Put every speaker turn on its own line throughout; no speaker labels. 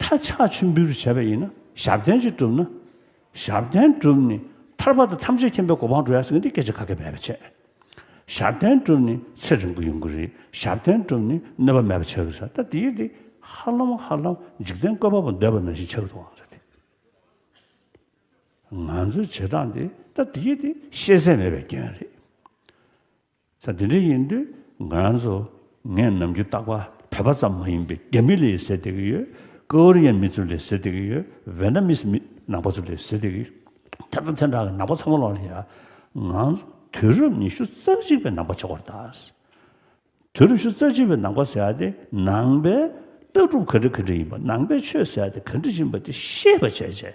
མཐར་ཕྱག་ཆེན་པོའི་རིགས་བྱ་བ་ཡིན་ན་ཞབས་བརྟན་གཅིག་གྲུབ་ན། ཞབས་བརྟན་གྲུབ་ནས་ཐར་པ་དང་ཐམས་ཅད་མཁྱེན་པའི་གོ་འཕང་འགྲོ་ཡ་སྲིད་ཀྱི་འདི་སྐད་ཅེས་ཁ་སྐད་འབད་པ་བྱེད། ཞབས་བརྟན་གྲུབ་ནས་ཚེ་རིང་པོ་ཡོང་གི་རེད་ཞབས་བརྟན་གྲུབ་ནས་གནོད་པ་མེད་པ་ཆགས་ཀྱི་རེད་ད་དེའི་དེ་ཧ་ལམ་ཧ་ལམ་འཇིག་རྟེན་བཀོད་པ་པོ་འདོད་པ་ནང་བཞིན་ཆགས་ཀྱི་འདུག་ཨང་རེད་དེ། ང་ཚོའི་བྱེད་སྟངས་དེ་ད་དེའི་དེ་ཤེས་གསལ་མེད་པའི་སྐྱོན་རེད། ས་འདི་འདྲ་ཡིན་དུས་ང་རང་ཚོ་ངས་ནམ་རྒྱུན་བརྟག་པ་བས་པ་ཙམ་མ་ཡིན་པའི་རྒྱ་མི་ལས་ཟེར་བསྡད་ཀྱི་ཡོད། ཀོ་རི་ཡའི་མི་ཚོ་ལས་ཟེར་བསྡད་ཀྱི་ཡོད་ཝེ་ན་མིས་མི་ནང་པ་ཚོ་ལས་ཟེར་བསྡད་ཀྱི་ཡོད། དེ་དང་དེ་འདྲ་གི་ནང་པ་ཚང་མ་ལ་ཡང་ང་ཚོ་དུས་རབས་ཉི་ཤུ་རྩ་གཅིག་པའི་ནང་པ་ཆགས་པར་གདའ། དུས་རབས་ཉི་ཤུ་རྩ་གཅིག་པའི་ནང་པ་ཟེར་བ་དེ་ནང་པའི་ལྟ་གྲུབ་ག་འདྲ་ག་འདྲ་ཡིན་པ་ནང་པའི་ཆོས་ཟེར་བ་དེ་ག་འདྲ་ཡིན་པ་དེ་ཤེས་པ་བྱས་རྗེས་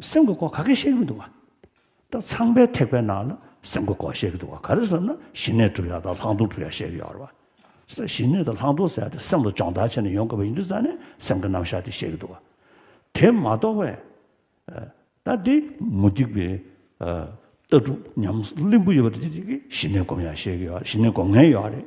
སེམས་ཀྱི་སྐོར་ག་གེ་བཤད་ཀྱི་མི་འདུག་བ། ད་ཚངས་པའི་ཐེག་པའི་ནང་ལ་སེམས་ཀྱི་སྐོར་བཤད་ཀྱི་འདུག་བ་ག་རེ་ཟེར་ན་ཞི་གནས་གྲུབ་ཡ་དང་ལྷག་མཐོང་གྲུབ་ཡ་བཤད་ཀྱི་ཡོད་རེད་བ། སེ་ཞི་གནས་དང་ལྷག་མཐོང་ཟེར་ཡ་དེ་སེམས་ལ་སྦྱོང་བརྡར་བྱས་ནས་ཡོང་དགོས་པ་ཡིན་དུས་ཙང་ནས་སེམས་ཀྱི་རྣམ་གཞག་དེ་བཤད་ཀྱི་འདུག་བ། དེ་མ་གཏོགས་པའི། ད་དེ་མུ་སྟེགས་པའི། ལྟ་གྲུབ་ཉམས་གླིང་བུ་ཡོད་པ་དེ་དེ་གི་ཞི་གནས་སྒོམ་ཡ་བཤད་ཀྱི་ཡོད་རེད་ཞི་གནས་སྒོམ་ངན་ཡོད་རེད།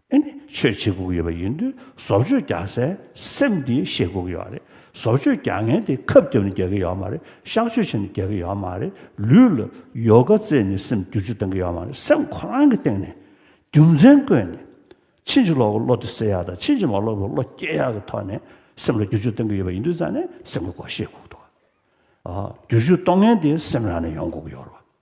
ཨེ་ནས་ཆོས་བྱེད་སྒུག་ཡོད་པ་ཡིན་དུས་བཟོ་བཅོས་རྒྱག་སའི་སེམས་དེ་ཤེས་སྒུག་ཡོད་རེད་བཟོ་བཅོས་རྒྱག་མཁན་དེ་ཁབ་རྒྱབ་ནས་རྒྱག་གི་ཡོད་མ་རེད་གཤག་བཅོས་བྱས་ནས་རྒྱག་གི་ཡོད་མ་རེད་ལུས་ལ་ཡོ་ག་རྩེད་ནས་སེམས་བསྒྱུར་བཅོས་གཏང་གི་ཡོད་མ་རེད་སེམས་ཁོ་རང་གི་སྟེང་ནས་རྒྱུ་མཚན་བཀོད་ནས་ཕྱིན་ཅི་ལོག་གི་བློ་དེ་སེལ་ཡག་དང་ཕྱིན་ཅི་མ་ལོག་གི་བློ་སྐྱེ་ཡག་གི་ཐོག་ནས་སེམས་ལ་བསྒྱུར་བཅོས་གཏང་གི་ཡོད་པ་ཡིན་དུས་ཙང་ནས་སེམས་ཀྱི་སྒོ་ཤེས་སྒུག་འདུག་བསྒྱུར་བཅོས་གཏོང་མཁན་དེ་སེམས་རང་ནས་ཡོང་སྒུག་ཡོད་རེད།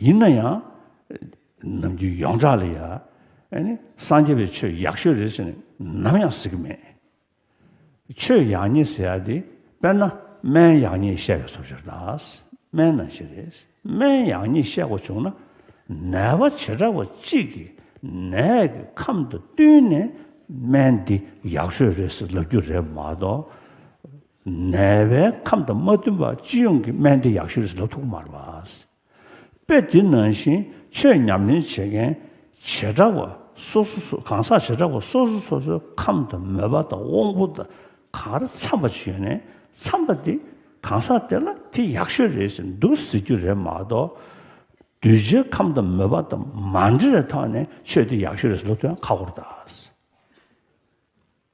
ཡིན་ན་ཡང་ནམ་རྒྱུན་ཡོངས་གྲགས་ལ་ཡང་སངས་རྒྱས་པའི་ཆོས་ཡག་ཤོས་རེད་ཟེར་ནས་ནམ་ཡང་ཟེར་གི་མེད། ཆོས་ཡག་ཉེས་ཟེར་ཡ་དེ་དཔེར་ན་སྨན་ཡག་ཉེས་བཤད་པའི་སོབ་ཤོར་དང། སྨན་ནང་བཞིན་རེད། སྨན་ཡག་ཉེས་བཤད་དགོས་བྱུང་ན་ནད་པ་བྱེ་བྲག་པ་གཅིག་གི་ནད་ཀྱི་ཁམས་དང་བསྟུན་ནས་སྨན་འདི་ཡག་ཤོས་རེད་ཟེར་ལབ་རྒྱུ་རེད་མ་གཏོགས། ནད་པའི་ཁམས་དང་མ་བསྟུན་པར་སྤྱི་ཡོངས་ཀྱི་སྨན་བདེ་ཡག་ཤོས་རེད་ལོ་ཐུག་མར་བསྲེས་པས་འདི་ནང་བཞིན་ཆོས་ཉམས་ལེན་བྱེད་མཁན་བྱེ་བྲག་པ་སོ་སོ་གང་ཟག་བྱེ་བྲག་པ་སོ་སོ་སོ་སོའི་ཁམས་དང་མོས་པ་དང་དབང་པོ་དང་གང་རེ་འཚམ་པ་ཞིག་ཡོད་ནས་འཚམ་པ་དེ་གང་ཟག་དེ་ལ་དེ་ཡག་ཤོས་རེད་ཟེར་འདུག་ཟེར་རྒྱུ་རེད་མ་གཏོགས། གདུལ་བྱའི་ཁམས་དང་མོས་པ་དང་མ་འབྲེལ་བའི་ཐོག་ནས་ཆོས་འདི་ཡག་ཤོས་རེད་ཟེར་ལོ་ཐུག་ཡང་ཁ་འཁོར་ད།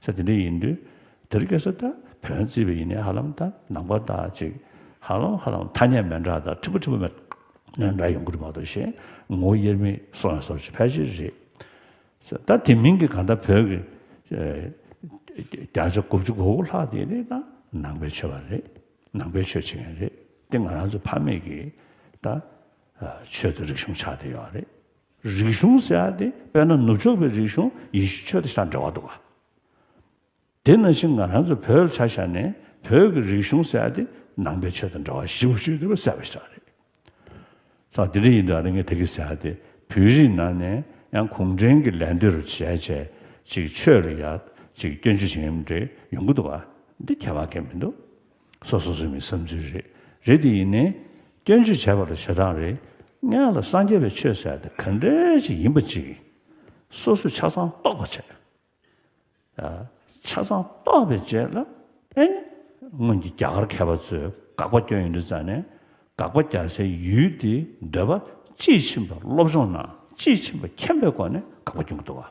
ས་དེ་འདྲ་ཡིན་དུས་དེར་སྐྱེ་ས་དང་བོན་བརྩིས་པ་ཡིན་ནའི་ཧ་ལམ་དང་ནང་པ་དག་ཅིག་ཧ་ལམ་ཧ་ལམ་ཐ་སྙད་མན་འདྲ་དང་འཁྲིག་པོ་འཁྲིག་པོ་མན་འདྲ་ཡོང་གི་རེད་མ་གཏོགས་ཞེ་ངོ་དབྱེར་མེད་སོ་ཡང་སོར་ཆུད་ཕལ་ཆེར་རེད། ད་དེ་མིན་གྱི་གང་ལྟར་བོད་ཀྱི་བརྒྱ་ཆ་དགུ་བཅུ་གོ་དགུ་ལྷག་དེ་ནི་ད་ནང་པའི་ཆོས་པ་རེད་ནང་པའི་ཆོས་བྱེད་མཁན་རེད་དེ་ང་རང་ཚོའི་ཕ་མེས་ཀྱི་ད་ཆོས་དང་རིག་གཞུང་ཆགས་བསྡད་ཡོད་རེད། རིག་གཞུང་ཟེར་ཡ་དེ་དཔེར་ན་ནུབ་ཕྱོགས་པའི་རིག་གཞུང་ཡེ་ཤུ་ཆོས་དེ་ཆ་འདྲ་བ་འདུག་ག། དེ་ན་ཕྱིན་ང་རང་ཚོ་བོད་ཆ་ཤར་ནས་བོད་ཀྱི་རིག་གཞུང་ཟེར་ཡ་དེ་ནང་པའི་ཆོས་དང་འདྲ་བ་གཞི་བོ་ཆོས་དེ་བ་ཟེར་བ་ཞིག་ཆགས་རེད། ད་དེ་འདྲ་ཡིན་དུས་ཨ་རི་ངས་དེ་གི་ཟེར་ཡ་དེ་བོད་རིགས་ནང་ནས་ཡང་གུང་ཁྲན་གྱི་ལས་འདི་རུ་བྱས་བྱས་ཅིག་ཆོས་རུ་ཡག་ཅིག་སྐྱོན་བརྗོད་བྱེད་མཁན་མི་འདྲ་ཡོང་གི་འདུག་ག་འདི་ཁྱད་པར་ཁས་མི་འདུག། སོ་སོ་སོའི་མི་བསམ་ཚུལ་རེད། རེད་དེ་ཡིན་ནའི། སྐྱོན་བརྗོད་བྱས་པ་ལ་བྱེད་སྟངས་རེ། ལྔས་ལ་སངས་རྒྱས་པའི་ཆོས་ཟེར་ཏེ་ག་འདྲའི་ཅིག་ཡིན་པ་ཅིག། སོ་སོས་ཆ་ཚང་རྟོགས་པ་བྱས། ཆ་ཚང་རྟོགས་པའི་རྗེས་ལ། ཨེ་ནི། སྔོན་གྱི་རྒྱ་གར་མཁས་པ་ཚོས་དགག་པ་སྐྱོན་ཡོད་འདུག་ཙང་ནས། དགག་པ་རྒྱག་སའི་ཡུལ་དེའི་འདོད་པ་དཔྱིས་ཕྱིན་པ་སློབ་སྦྱོང་ནང་དཔྱིས་ཕྱིན་པ་མཁྱེན་པའི་སྒོ་ནས་དགག་པ་སྐྱོན་གྱི་འདུག་བ།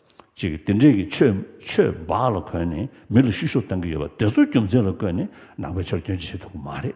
ཅིག་དེ་འདྲས་ཀྱི་ཆོས་འབའ་ལ་གོན་ནས་མི་ལ་བཤུ་གཞོག་བཏང་གི་ཡོད་པ་དེ་ཚོའི་རྒྱུ་མཚན་ལ་བཀོད་ནས་ནང་པའི་ཆོར་སྐྱོན་བྱེད་ཐུབ་ཀྱི་མ་རེད།